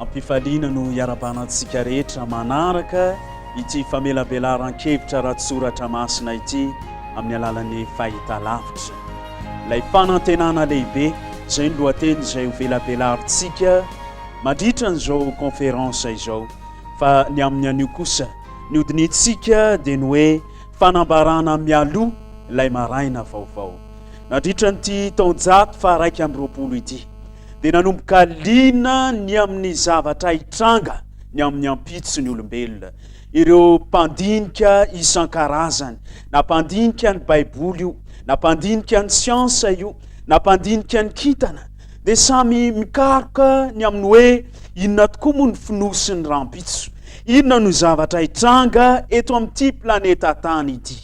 Am-pifaliana no iarabana antsika rehetra manaraka ity famelabelaran-kevitra ara-tsoratra masina ity amin'ny alalan'ny fahitalavitra. Ilay fanantenana lehibe, izay ny lohateny izay hovelabelarintsika mandritra an'izao conférence izao. Fa ny amin'ny anio kosa, ny hodinihintsika dia ny hoe fanambarana mialoha ilay maraina vaovao. Nandritra an'ity taonjato faha-raika amby roapolo ity, dia nanomboka liana ny amin'ny zavatra hitranga ny amin'ny ampitson'ny olombelona. Ireo mpandinika isan-karazany, na mpandinika ny Baiboly io, na mpandinika ny siansa io, na mpandinika ny kintana, dia samy mikaroka ny amin'ny hoe inona tokoa moa ny fonosin'ny rahampitso. Inona no zavatra hitranga eto amin'ity planeta Tany ity?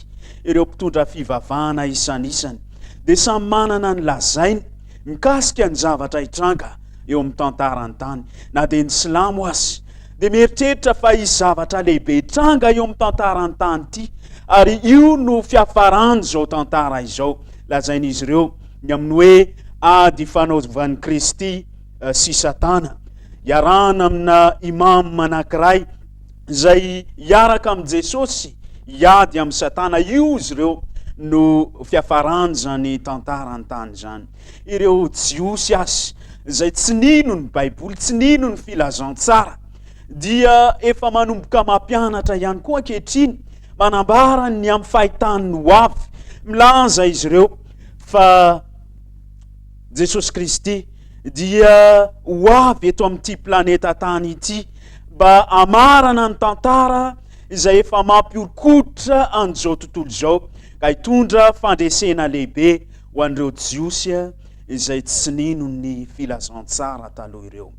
Ireo mpitondra fivavahana isanisany dia samy manana ny lazainy mikasika ny zavatra hitranga eo amin'ny tantaran'ny tany, na dia ny silamo aza dia mieritreritra fa hisy zavatra lehibe hitranga eo amin'ny tantaran'ny tany ity, ary io no fiafaran'izao tantara izao, lazain'izy ireo, ny amin'ny hoe ady ifanaovan'i Kristy sy Satana, iarahana amina imam anankiray, izay hiaraka amin'i Jesosy hiady amin'i Satana, io izy ireo no fiafaran'izany tantara an-tany izany. Ireo Jiosy azy izay tsy nino ny Baiboly, tsy nino ny filazantsara, dia efa manomboka mampianatra ihany koa ankehitriny, manambara ny amin'ny fahitany ho avy. Milaza izy ireo fa Jesosy Kristy dia ho avy eto amin'ity planeta tany ity mba hamarana ny tantara izay efa mampiorikotra an'izao tontolo izao ka hitondra fandresena lehibe ho an'ireo Jiosy izay tsy nino ny filazantsara taloha ireo.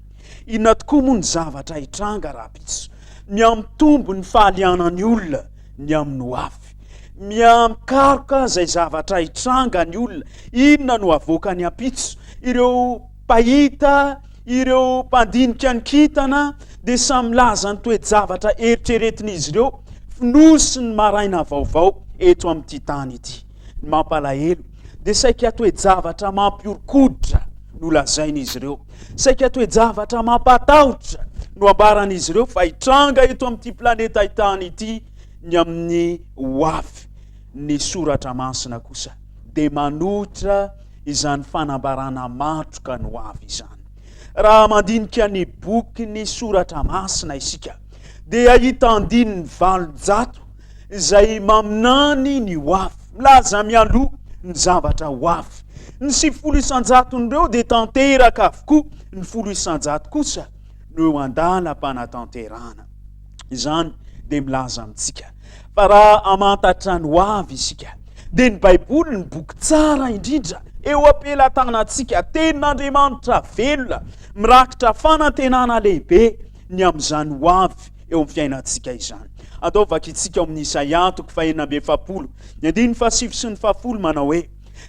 Inona tokoa moa ny zavatra hitranga rahampitso? Mihamitombo ny fahalianan'ny olona ny amin'ny ho avy. Miha-mikaroka izay zavatra hitranga ny olona, inona no havoakany ampitso. Ireo mpahita, ireo mpandinika ny kintana dia samy milaza ny toe-javatra eritreretin'izy ireo, fonosiny maraina vaovao eto amin'ity tany ity. Ny mampalahelo dia saika toe-javatra mampihoron-koditra no lazain'izy ireo. Saika toe-javatra mampatahotra no ambaran'izy ireo fa hitranga eto amin'ity planeta Tany ity ny amin'ny hoavy. Ny soratra masina kosa dia manohitra izany fanambarana matroka ny hoavy izany. Raha mandinika ny boky ny soratra masina isika dia hahita andininy valonjato izay maminany ny ho avy, milaza mialoha ny zavatra ho avy. Ny sivifolo isan-jaton'ireo dia tanteraka avokoa, ny folo isan-jato kosa no eo an-dalam-panatanterahana. Izany dia milaza amintsika fa raha hamantatra ny ho avy isika, dia ny Baiboly no boky tsara indrindra eo am-pelatanantsika. Tenin'Andriamanitra velona, mirakitra fanantenana lehibe ny amin'izany ho avy eo amin'ny fiainantsika izany. Andao vakintsika ao amin'ny Isaia, toko fahenina amby efapolo, ny andininy fahasivy sy ny fahafolo, manao hoe,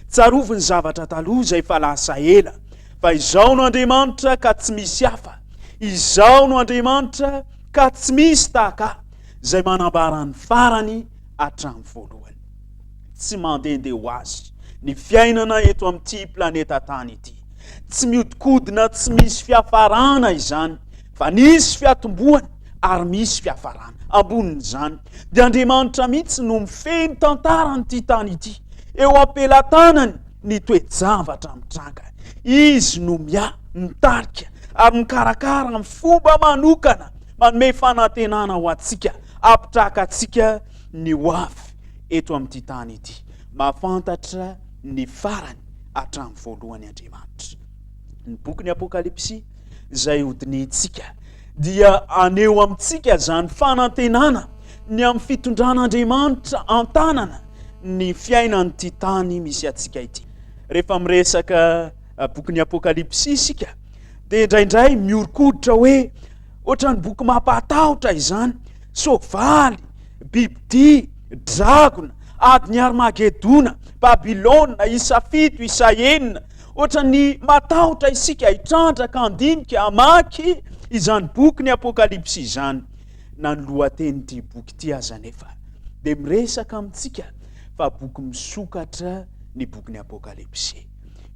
Tsarovy ny zavatra taloha izay efa lasa ela, fa Izaho no Andriamanitra ka tsy misy hafa, Izaho no Andriamanitra ka tsy misy tahaka Ahy, izay manambara ny farany hatramin'ny voalohany. Tsy mandehandeha ho azy ny fiainana eto amin'ity planeta tany ity. Tsy mihodinkodina tsy misy fiafarana izany, fa nisy fiatombohany ary misy fiafarana. Ambonin'izany, dia Andriamanitra mihitsy no mifehy ny tantaran'ity tany ity. Eo am-pelatanany ny toe-javatra mitranga. Izy no miahy, mitarika ary mikarakara amin'ny fomba manokana, manome fanantenana ho antsika, hampitraka antsika ny ho avy eto amin'ity tany ity. Mahafantatra ny farany hatramin'ny voalohany Andriamanitra. Ny bokin'ny Apokalypsy izay hodinihintsika dia aneho amintsika izany fanantenana ny amin'ny fitondran'Andriamanitra an-tanana ny fiainan'ity tany misy antsika ity. Rehefa miresaka bokin'ny Apokalypsy isika dia indraindray miorikoditra hoe Ohatran'ny boky mampahatahotra izany, soavaly, bibidia, dragona, adin'i Armagedona, Babylona, isa fito, isa enina. Ohatran'ny matahotra isika hitrandraka, handinika, hamaky izany boky ny Apokalypsy izany. Na ny lohatenin'ity boky ity aza anefa dia miresaka amintsika fa boky misokatra ny bokin'ny Apokalypsy.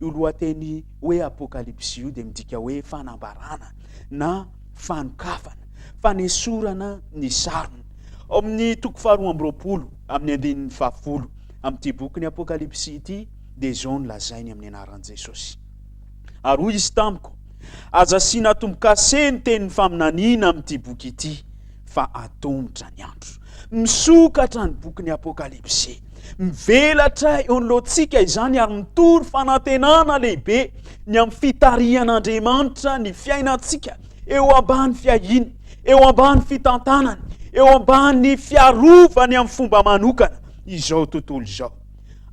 Io lohateny hoe Apokalypsy io dia midika hoe fanambarana na fanokafana, fanesorana ny sarony. Ao amin'ny toko faharoa amby roapolo amin'ny andininy fahafolo amin'ity boky ny Apokalypsy ity dia izao no lazainy amin'ny anaran'i Jesosy. Ary hoy izy tamiko, aza asiana tombo-kase ny tenin'ny faminaniana amin'ity boky ity, fa atomotra ny andro. Misokatra ny bokin'ny Apokalypsy. Mivelatra eo anoloantsika izany ary mitory fanantenana lehibe ny amin'ny fitarihan'Andriamanitra ny fiainantsika eo ambany fiahiany, eo ambany fitantanany, eo ambany fiarovany amin'ny fomba manokana izao tontolo izao.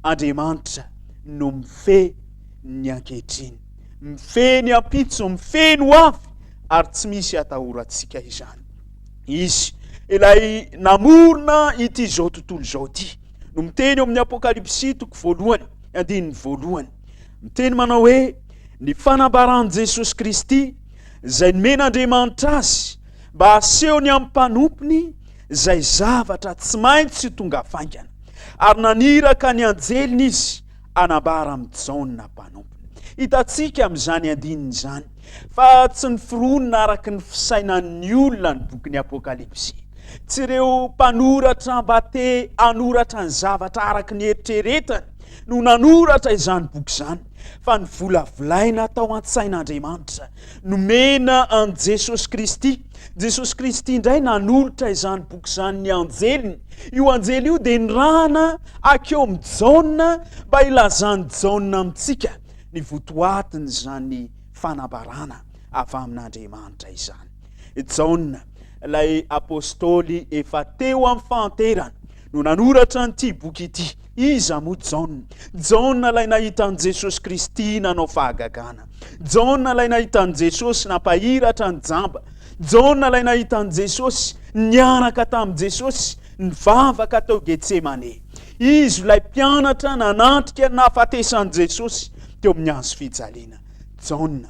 Andriamanitra no mifehy ny ankehitriny, mifehy ny ampitso, mifehy ny ho avy ary tsy misy atahorantsika izany. Izy ilay namorona ity izao tontolo izao ity no miteny eo amin'ny apokalypsy toko voalohany andininy voalohany miteny manao hoe ny fanambaran'i jesosy kristy izay nomen'andriamanitra azy mba haseho ny amin'ny mpanompony izay zavatra tsy maintsy tonga faingana ary naniraka ny anjeliny izy hanambara amin'i Jaona mpanompony. Hitantsika amin'izany andininy izany fa tsy noforonina araka ny fisainan'ny olona ny bokin'ny Apokalypsy. Tsy ireo mpanoratra mba te hanoratra ny zavatra araka ny eritreretany no nanoratra izany boky izany, fa novolavolaina tao an-tsain'Andriamanitra Nomena an'i Jesosy Kristy. Jesosy Kristy indray nanolotra izany boky izany ny anjeliny. Io anjely io dia nirahana akeo amin'i Jaona mba hilazan'i Jaona amintsika ny votoatin'izany fanambarana avy amin'Andriamanitra izany. Jaona, ilay apostoly efa teo amin'ny fahanterany, no nanoratra an'ity boky ity. Iza moa Jaona? Jaona ilay nahita an'i Jesosy Kristy nanao fahagagana. Jaona ilay nahita an'i Jesosy nampahiratra ny jamba. Jaona ilay nahita an'i Jesosy niaraka tamin'i Jesosy nivavaka tao Getsemane. Izy ilay mpianatra nanatrika nafatesan'i Jesosy teo amin'ny hazo fijaliana. Jaona.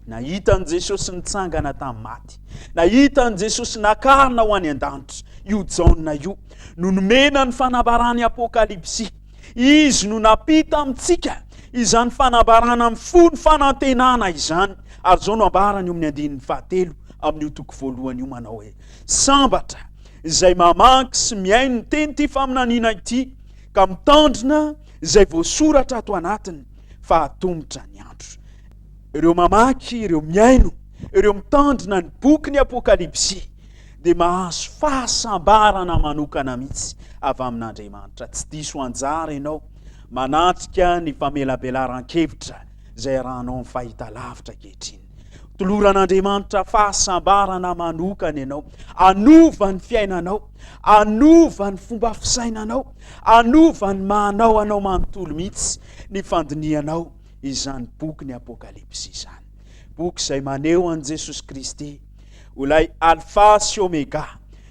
Nahita an'i Jesosy nitsangana tamin'ny maty. Nahita an'i Jesosy nakarina ho any an-danitra. Io Jaona io no nomena ny fanambarany Apokalypsy. Izy no napita amintsika izany fanambarana mifono fanantenana izany. Ary izao no ambarany eo amin'ny andininy fahatelo amin'io toko voalohany io manao hoe sambatra izay mamaky sy mihaino ny teny ity faminaniana ity ka mitandrina izay voasoratra ato anatiny fa hatomotra ny andro. Ireo mamaky, ireo mihaino, ireo mitandrina ny bokin'ny Apokalypsy dia mahazo fahasambarana manokana mihitsy avy amin'Andriamanitra. Tsy diso anjara ianao manatrika ny famelabelaran-kevitra izay arahanao ny fahitalavitra ankehitriny. Toloran'Andriamanitra fahasambarana manokana ianao. Anova ny fiainanao, anova ny fomba fisainanao, anova ny manao anao manontolo mihitsy ny fandinihanao izany boky ny Apokalypsy izany. Boky izay maneho an'i Jesosy Kristy ho ilay Alfa sy Omega,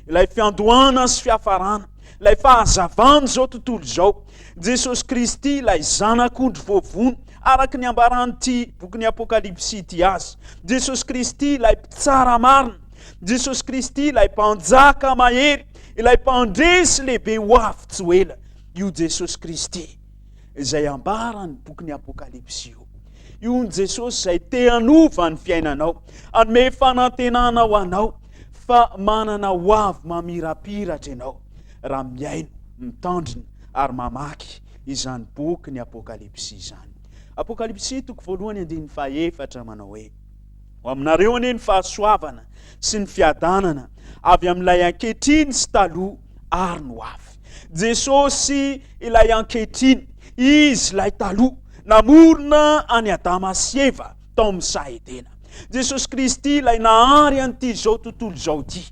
ilay fiandohana sy fiafarana, ilay fahazavan'izao tontolo izao. Jesosy Kristy ilay zanak'ondry voavono, araka ny ambaran'ity boky ny Apokalypsy ity azy. Jesosy Kristy ilay mpitsara marina, Jesosy Kristy ilay mpanjaka mahery, ilay mpandresy lehibe ho avy tsy ho ela. Io Jesosy Kristy izay ambaran'ny bokin'ny Apokalypsy io. Io ny Jesosy izay te hanova ny fiainanao, hanome fanantenana ho anao fa manana ho avy mamirapiratra ianao raha mihaino, mitandrina ary mamaky izany boky ny Apokalypsy izany. Apokalypsy toko voalohany andininy fahaefatra manao hoe ho aminareo anie ny fahasoavana sy ny fiadanana avy amin'ilay ankehitriny sy taloha ary ny ho avy. Jesosy ilay ankehitriny, Izy ilay taloha, namorona an'i Adama sy Eva tao amin'ny saha Edena. Jesosy Kristy ilay nahary an'ity izao tontolo izao ity.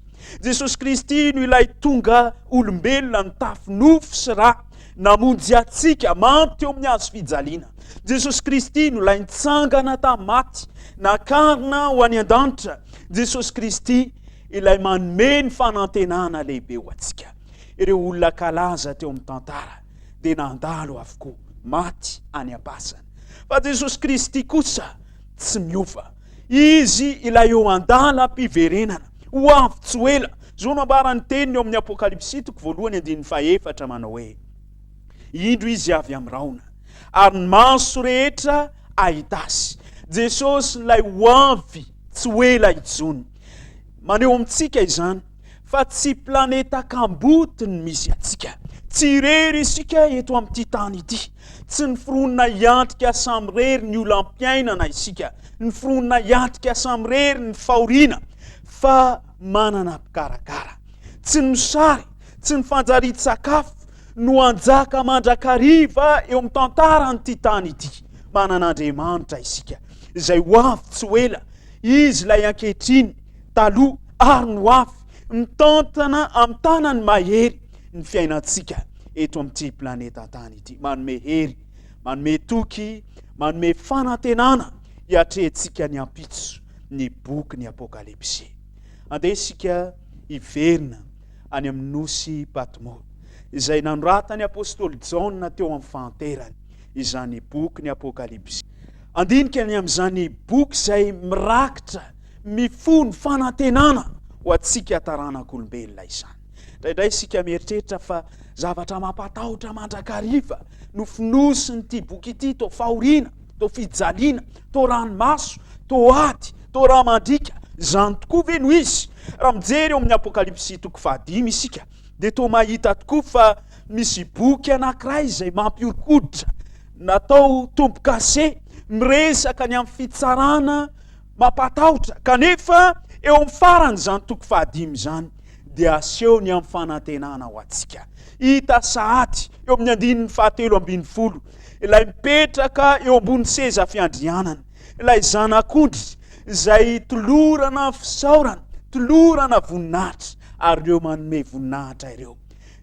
Jesosy Kristy no ilay tonga olombelona nitafy nofo sy ra, namonjy antsika, mampy teo amin'ny hazo fijaliana. Jesosy Kristy no ilay nitsangana tamin'ny maty, nakarina ho any an-danitra. Jesosy Kristy Ilay manome ny fanantenana lehibe ho antsika. Ireo olona kalaza teo amin'ny tantara dia nandalo avokoa, maty any am-pasana. Fa Jesosy Kristy kosa tsy miova. Izy ilay eo an-dalam-piverenana, ho avy tsy ho ela. Izao no ambaran'ny teniny ao amin'ny Apokalypsy toko voalohany andininy fahefatra manao hoe, Indro Izy avy amin'ny rahona, ary ny maso rehetra hahita Azy. Jesosy ilay ho avy tsy ho ela intsony. Maneho amintsika izany fa tsy planeta kamboty ny misy antsika. Tsy irery isika eto amin'ity tany ity. Tsy ny foronina hiantrika samirery ny olam-piainana isika, ny foronina hiantrika samirery ny fahoriana, fa manana mpikarakara. Tsy ny sary, tsy ny fanjarian-tsakafo no hanjaka mandrakariva eo amin'ny tantaran'ity tany ity. Manana Andriamanitra isika, izay ho avy tsy ho ela, Izy ilay ankehitriny, taloha, ary ny ho avy, mitantana amin'ny tanany mahery ny fiainantsika eto amin'ity planeta tany ity. Manome hery, manome toky, manome fanantenana hiatrehantsika ny ampitso ny bokin'ny Apokalypsy. Andeha isika hiverina any amin'ny nosy Patmo, izay nanoratan'ny apostoly Jaona teo amin'ny fahanterany izany bokin'ny Apokalypsy. Handinika ny amin'izany boky izay mirakitra mifono fanantenana ho antsika taranak'olombelona izany. Indraindray isika mieritreritra fa zavatra mampatahotra mandrakariva no fonosin'ity boky ity, toa fahoriana, toa fijaliana, toa ranomaso, toa ady, toa rà mandriaka. Izany tokoa ve no izy? Raha mijery eo amin'ny Apokalypsy toko fahadimy isika, dia toa mahita tokoa fa Misy boky anankiray izay mampiorikoditra, natao tombo-kase, miresaka ny amin'ny fitsarana mampatahotra, kanefa eo amin'ny faran'izany toko fahadimy izany dia aseho ny amin'ny fanantenana ho antsika. Hita sahady eo amin'ny andininy fahatelo ambin'ny folo ilay mipetraka eo ambony seza fiandrianana, ilay zanak'ondry izay tolorana fisaorana, tolorana voninahitra, ary ireo manome voninahitra ireo.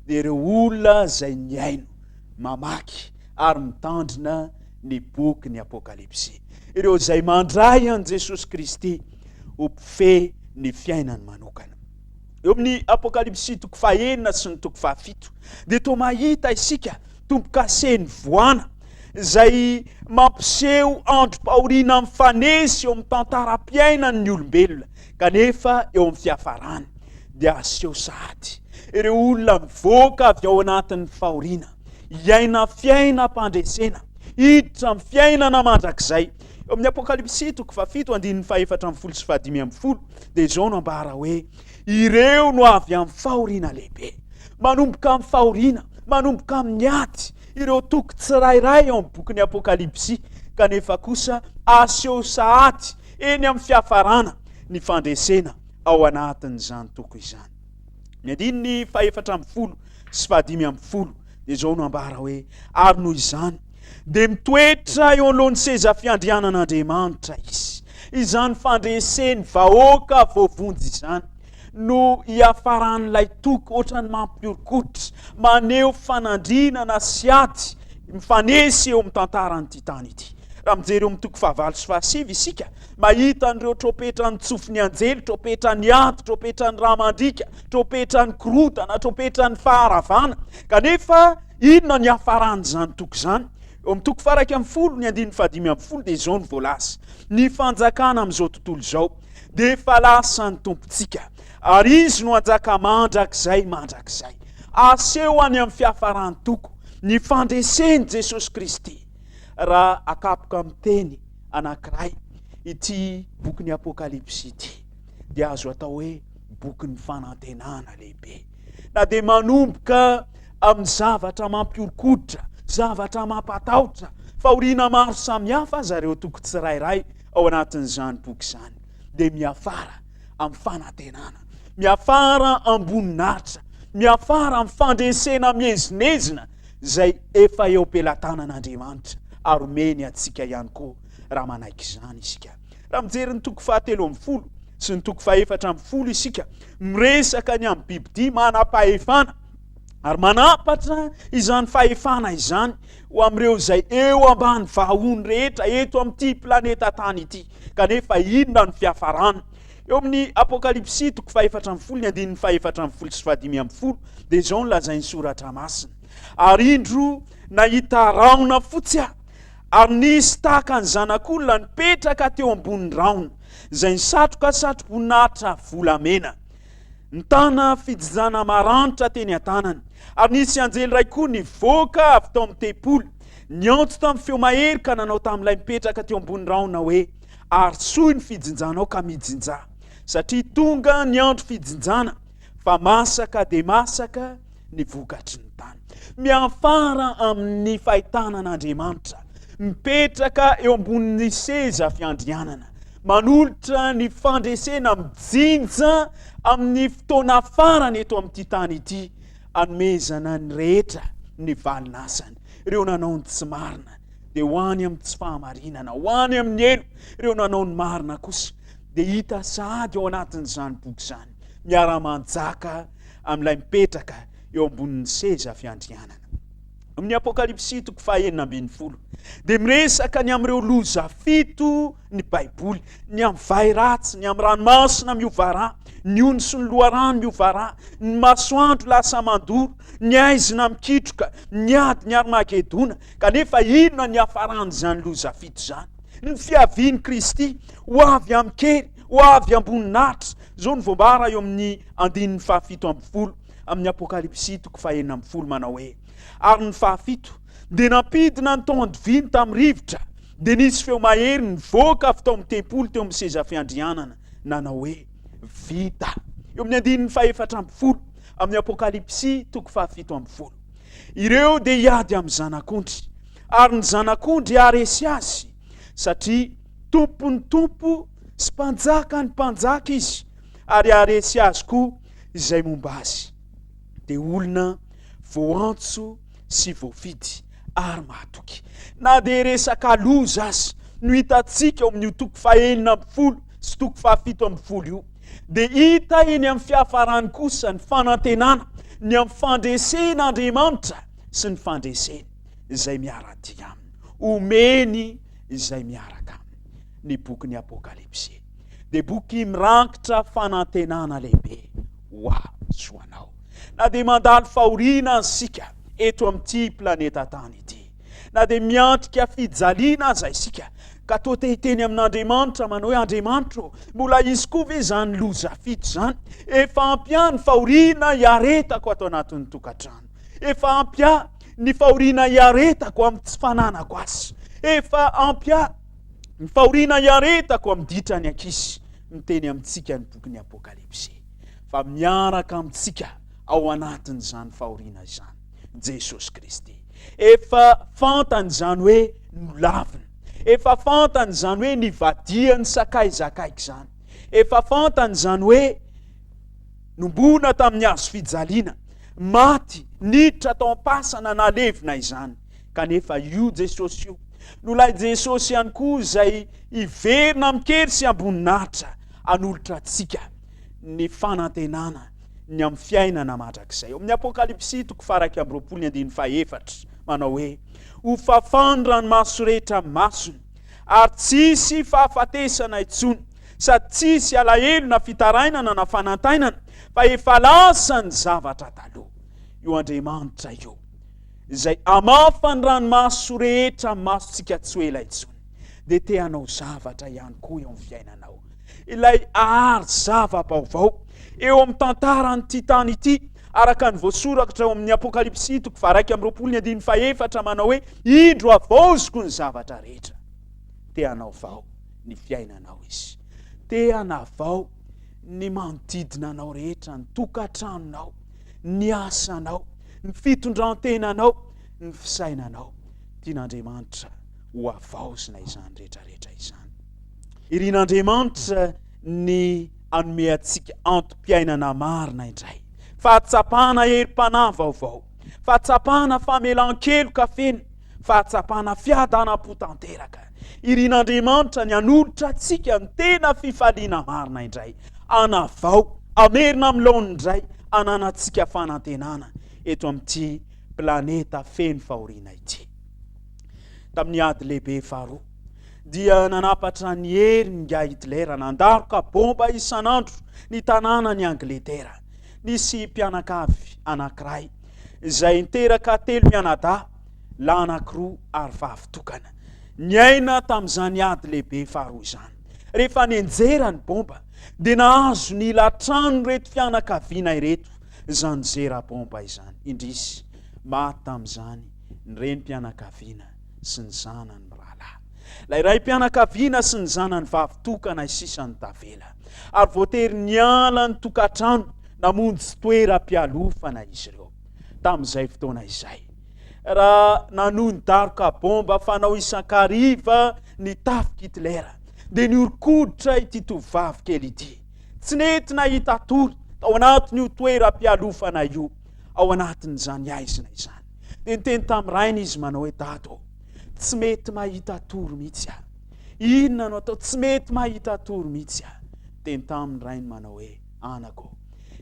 dia ireo olona izay nihaino, mamaky ary mitandrina ny bokin'ny Apokalypsy, ireo izay mandray an'i Jesosy Kristy ho mpifehy ny fiainany manokana. Eo amin'ny Apokalypsy toko fahenina sy ny toko fahafito dia toa mahita isika tombo-kase nivoana izay mampiseho androm-pahoriana mifanesy eo amin'ny tantaram-piainan'ny olombelona Kanefa eo amin'ny fiafarany dia aseho sahady ireo olona mivoaka avy ao anatin'ny fahoriana, hiaina fiainam-pandresena, hiditra amin'ny fiainana mandrakizay. Eo amin'ny Apokalypsy toko fahafito andininy fahefatra ambin'ny folo sy fahadimy ambin'ny folo dia izao no ambara hoe ireo no avy amin'ny fahoriana lehibe. Manomboka amin'ny fahoriana, manomboka amin'ny ady ireo toko tsirairay ao amin'ny bokin'ny Apokalypsy kanefa kosa aseho sahady eny amin'ny fiafarana ny fandresena ao anatin'izany toko izany. Ny andininy fahefatra ambin'ny folo sy fahadimy ambin'ny folo dia izao no ambara hoe, ary noho izany dia mitoetra eo anoloan'ny seza fiandrianan'Andriamanitra izy, izany fandreseny vahoaka voavonjy izany, no hiafaran'ilay toko ohatran'ny mampiorikotra, maneho fanandrinana sy ady mifanesy eo amin'ny tantaran'ity tany ity. Raha mijery eo amin'ny toko fahavalo sy fahasivy isika, mahita an'ireo trompetran'ny tsofin'ny anjely, trompetran'ny ady, trompetran'ny rà mandriaka, trompetran'ny korontana, trompetran'ny faharavana. Kanefa inona ny hiafaran'izany toko izany? Eo amin'ny toko faraika amin'ny folo, ny andininy fahadimy amin'ny folo dia izao no voalaza, ny fanjakana amin'izao tontolo izao. dia efa lasan'ny Tompontsika, ary Izy no hanjaka mandrakizay mandrakizay. Aseho any amin'ny fiafaran'ny toko ny fandresen'i Jesosy Kristy, raha akapoka amin'ny teny anankiray ity bokin'ny Apokalypsy ity, dia azo atao hoe bokin'ny fanantenana lehibe. Na dia manomboka amin'ny zavatra mampiorikoditra, zavatra mampatahotra, fahoriana maro samihafa aza ireo toko tsirairay, ao anatin'izany boky izany dia miafara amin'ny fanantenana, miafara am-boninahitra, miafara amin'ny fandresena miezinezina izay efa eo am-pelatanan'Andriamanitra ary omeny antsika ihany koa raha manaiky izany isika. Raha mijery ny toko fahatelo ambin'ny folo sy ny toko fahefatra ambin'ny folo isika, miresaka ny amin'ny bibidia manam-pahefana, ary manapatra izany fahefana izany ho amin'ireo izay eo ambany vahony rehetra eto amin'ity planeta tany ity kanefa inona ny fiafarany eo amin'ny apokalypsy toko fahefatra amin'ny folo ny andininy fahefatra amin'ny folo sy fahadimy amin'ny folo dia izao ny lazain'ny soratra masina ary indro nahita raona fotsy aho ary nisy tahaka ny zanak'olona nipetraka teo ambon'ny raona izay ny satroka satroboninahitra volamena Nitana fijizana maranitra teny an-tanany, ary nisy anjely iray koa nivoaka avy tao amin'ny tempoly, niantso tamin'ny feo mahery ka nanao tamin'ilay mipetraka teo ambony rahona hoe, Arisohy ny fijinjanao ka mijinja, satria tonga ny andro fijinjana, fa masaka dia masaka ny vokatry ny tany. Miafara amin'ny fahitana an'Andriamanitra mipetraka eo ambonin'ny seza fiandrianana, manolotra ny fandresena mijinja amin'ny fotoana farany eto amin'ity tany ity, anomezana ny rehetra ny valin'asany. Ireo nanao ny tsy marina dia ho any amin'ny tsy fahamarinana, ho any amin'ny helo. Ireo nanao ny marina kosa dia hita sahady ao anatin'izany boky izany, miara-manjaka amin'ilay mipetraka eo ambonin'ny seza fiandrianana. Amin'ny Apokalypsy toko fahenina ambin'ny folo dia miresaka ny amin'ireo loza fito ny Baiboly, ny amin'ny vay ratsy, ny amin'ny ranomasina miova rà, ny ony sy ny loharano miova rà, ny masoandro lasa mandoro, ny haizina mikitroka, ny ady ny Armagedona. Kanefa inona ny hafaran'izany loza fito izany? Ny fiavian'i Kristy ho avy amin-kery, ho avy amboninahitra, Izao no voambara eo amin'ny andininy fahafito ambin'ny folo amin'ny Apokalypsy toko fahenina ambin'ny folo, manao hoe, Ary ny fahafito dia nampidina ny tao andoviany tamin'ny rivotra, dia nisy feo mahery nivoaka avy tao amin'ny tempoly teo amin'ny seza fiandrianana, nanao hoe, Vita! Eo amin'ny andininy fahefatra ambin'ny folo amin'ny Apokalypsy toko fahafito ambin'ny folo. Ireo dia hiady amin'ny Zanak'ondry, ary ny Zanak'ondry haharesy azy, satria Tompon'ny tompo sy mpanjaka ny mpanjaka izy, ary haharesy azy koa izay momba azy. Dia olona voantso sy voafidy ary mahatoky. Na dia resaka loza aza no hitantsika ao amin'io toko fahenina ambin'ny folo sy toko fahafito ambin'ny folo io, dia hita eny amin'ny fiafarany kosa ny fanantenana ny amin'ny fandresen'Andriamanitra sy ny fandreseny izay miara-dia aminy. Omeny izay miaraka aminy. ny bokin'ny Apokalypsy dia boky mirakitra fanantenana lehibe ho ahy sy ho anao. Na dia mandalo fahoriana isika eto amin'ity planeta tany ity, na dia miantrika fijaliana aza isika, ka toa te hiteny amin'Andriamanitra manao hoe Andriamanitro, mbola hisy koa ve izany loza fito izany? Efa ampy ihany fahoriana iaretako ato anatin'ny tokantrano. Efa ampy ahy ny fahoriana iaretako amin'ny tsy fananako azy. Efa ampy ahy ny fahoriana iaretako amin'ny ditra ny ankizy. Miteny amintsika ny bokin'ny Apokalypsy fa miaraka amintsika ao anatin'izany fahoriana izany Jesosy Kristy. Efa fantany izany hoe nolavina. Efa fantany izany hoe nivadihan'ny sakay zakaiky izany. Efa fantany izany hoe Nomboana tamin'ny hazo fijaliana, maty, niditra tao am-pasana, nalevina izany. Kanefa io Jesosy io no ilay Jesosy ihany koa izay hiverina amin-kery sy am-boninahitra hanolotra antsika ny fanantenana ny amin'ny fiainana mandrakizay. Ao amin'ny Apokalypsy toko faharaika amby roapolo ny andininy fahefatra, manao hoe, Ho fafan-dranomaso rehetra masony, ary tsy hisy fahafatesana intsony. sady tsisy alahelo na fitarainana na fanantainana fa efa lasa ny zavatra taloha. Io Andriamanitra io izay hamafa ny ranomaso rehetra amin'ny masontsika tsy ho ela intsony dia te hanao zavatra ihany koa eo amin'ny fiainanao. Ilay ahary zava-baovao eo amin'ny tantaran'ity tany ity araka ny voasorakitra ao amin'ny Apokalypsy toko faharaika amin'ny roapolo ny andininy fahefatra manao hoe indro havaoziko ny zavatra rehetra. Te hanao vao ny fiainanao izy. Te hanavao ny manodidina anao rehetra, ny tokantranonao, ny asanao, ny fitondran-tenanao, ny fisainanao. Tian'Andriamanitra ho avaozina izany rehetrarehetra izany. Irin'Andriamanitra ny anome antsika antom-piainana marina indray. Fahatsapana herim-panahy vaovao, fahatsapana famelan-keloka feno, Fahatsapana fiadanam-po tanteraka. Irin'Andriamanitra ny hanolotra antsika ny tena fifaliana marina indray. Anavao, hamerina amin'ny laoniny indray hananantsika fanantenana eto amin'ity planeta feno fahoriana ity. Tamin'ny Ady Lehibe Faharoa, dia nanapatra ny hery n'ingahy Hitler nandaroka bomba isan'andro ny tanànan'i Angletera. Nisy mpianakavy anankiray izay niteraka telo mianadahy, lahy anankiroa ary vavy tokana. Niaina tamin'izany ady lehibe faharoa izany. Rehefa nenjera ny bomba, dia nahazo ny latrano ireto fianakaviana ireto izany zera bomba izany. Indrisy, maty tamin'izany ny renim-pianakaviana sy ny zanany mirahalahy, ilay raim-pianakaviana sy ny zanany vavy tokana izay sisa no tavela, ary voatery niala ny tokantrano namonjy toeram-pialofana izy ireo tamin'izay fotoana izay, raha nanohy ny daroka bomba fanao isan-kariva ny tafik'i Hitler, dia nihoron-koditra ity tovovavy kely ity. Tsy nety nahita tory tao anatin'io toeram-pialofana io. ao anatin'izany aizina izany. Dia niteny tamin'ny rainy izy manao hoe dado ô, tsy mety mahita tory mihitsy aho. Inona no atao? Tsy mety mahita tory mihitsy aho. Teny tamin'ny rainy manao hoe anako,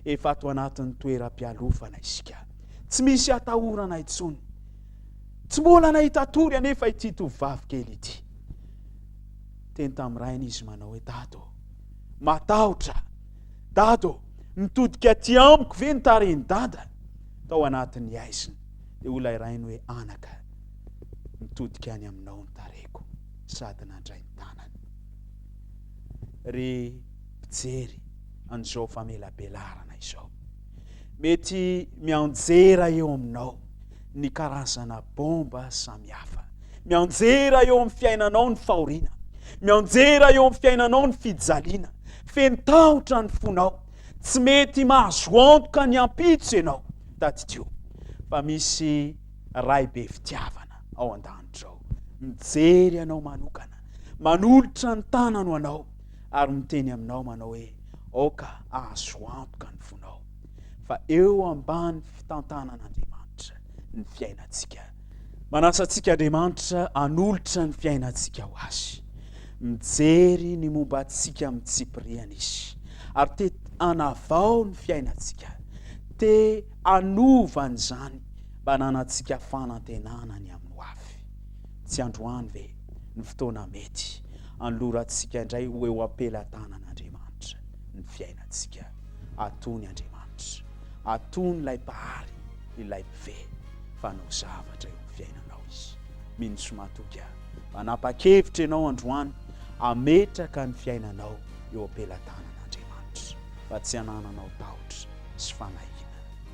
efa ato anatin'ny toeram-pialofana isika. Tsy misy atahorana intsony. Tsy mbola nahita tory anefa ity tovovavy kely ity. Teny tamin'ny rainy izy manao hoe dado, matahotra Dada ô! Mitodika aty amiko ve ny tarehin'i Dada? Tao anatin'ny haizina dia hoy ilay rainy hoe, Anaka, mitodika any aminao ny tarehiko sady nandray ny tanany. Ry mpijery an'izao famelabelarana izao, mety mianjera eo aminao ny karazana bomba samihafa. Mianjera eo amin'ny fiainanao ny fahoriana. Mianjera eo amin'ny fiainanao ny fijaliana. Feno tahotra ny fonao. Tsy mety mahazo antoka ny ampitso ianao. Tadidio fa misy Ray be fitiavana ao an-danitra ao. Mijery anao manokana. Manolotra ny tanany ho anao ary miteny aminao manao hoe aoka ahazo antoka ny fonao. fa eo ambany fitantanan'Andriamanitra ny fiainantsika. Manasa antsika Andriamanitra anolotra ny fiainantsika ho azy. Mijery ny momba antsika amin'ny tsipiriany izy ary te anavao ny fiainantsika, te anova an'izany mba nanantsika fanantenana ny amin'ny hoavy. Tsy androany ve ny fotoana mety anolorantsika indray ho eo am-pelatanan'Andriamanitra ny fiainantsika? Atony Andriamanitra, atony ilay Mpahary, ilay Mpifehy fa hanao zavatra eo amin'ny fiainanao Izy. Mino sy matoky aho fa hanapa-kevitra ianao androany hametraka ny fiainanao eo am-pelatanan'Andriamanitra, fa tsy hanananao tahotra sy fanahiana.